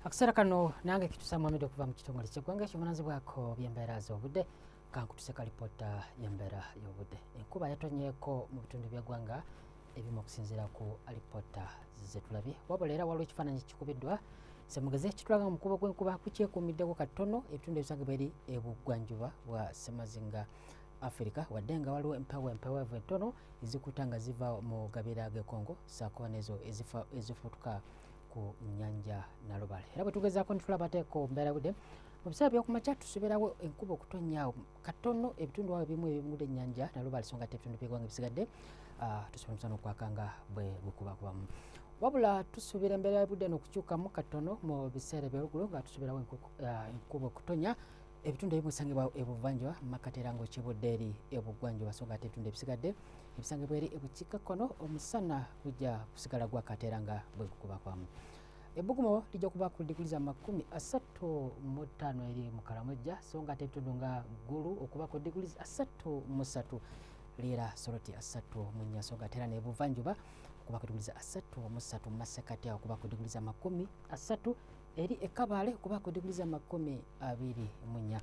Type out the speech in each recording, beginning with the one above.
akaseera kano nange kitusa muhamed okuva mu kitongole kyeggwanga ekivunaanyizibwako byembeera z'obudde kankutuse ka lipoota yembeera y'obudde enkuba yatonyeeko mu bitundu byeggwanga ebimu okusinziira ku alipoota zetulabye wabula era waliwo ekifaananyi kikubiddwa semugeze kitulaga omukubo gw'enkuba kukyekuumiddeko katono ebitundu ebisangibwa eri ebugwanjuba bwa semazinga afirika wadde nga waliwo empewo empeweevu entono ezikuta nga ziva mu gabira g'ekongo saako nezo ezifutuka ku nyanja nalubale era bwetugezaako netulabateeko mbeera budde mu biseera byokumakya tusubirawo enkuba okutonyaawo katono ebitundu awo ebimu ebimudde enyanja nalubale songa te ebitundu byegwanga ebisigadde ah, tusobola omusana okwaka nga bwe gukubakubamu wabula tusuubira embeera yabudde nokukyukamu katono mu biseera ebyolugulu nga tusuubirawo ah, enkuba okutonya ebitundu ebimu bisangibwa ebuvanjuba mu makkati era ng'okibudde eri ebugwanjuba so nga ate ebitundu ebisigadde ebisangibwa eri ebukiikakkono omusana gujja kusigala gwakati era nga bwe gukubakwamu ebbugumo lijja kuba ku diguli za makumi asatu mu ttaano eri mu kalamojja so nga ate ebitundu nga ggulu okuba ku diguli asatu mu satu liira soroti asatu mu nnya so nga ate era n'ebuvanjuba okuba ku diguli za asatu mu satu mu masekati awo okuba ku diguli za makumi asatu eri e Kabale kuba ku diguli z'amakumi abiri mu nnya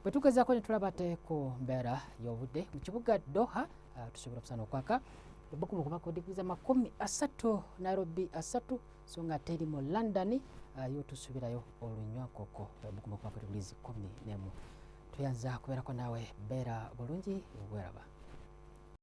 bwe tugezaako ne tulaba te ku mbeera y'obudde mu kibuga Doha ah, tusobola okusana okwaka ebbugumu kuba ku diguli z'amakumi asatu Nairobi asatu so nga teri mu London ah, yo tusubirayo olunywakoko ebbugumu kuba ku diguli zikumi n'emu tuyanza kubeerako naawe beera bulungi bweraba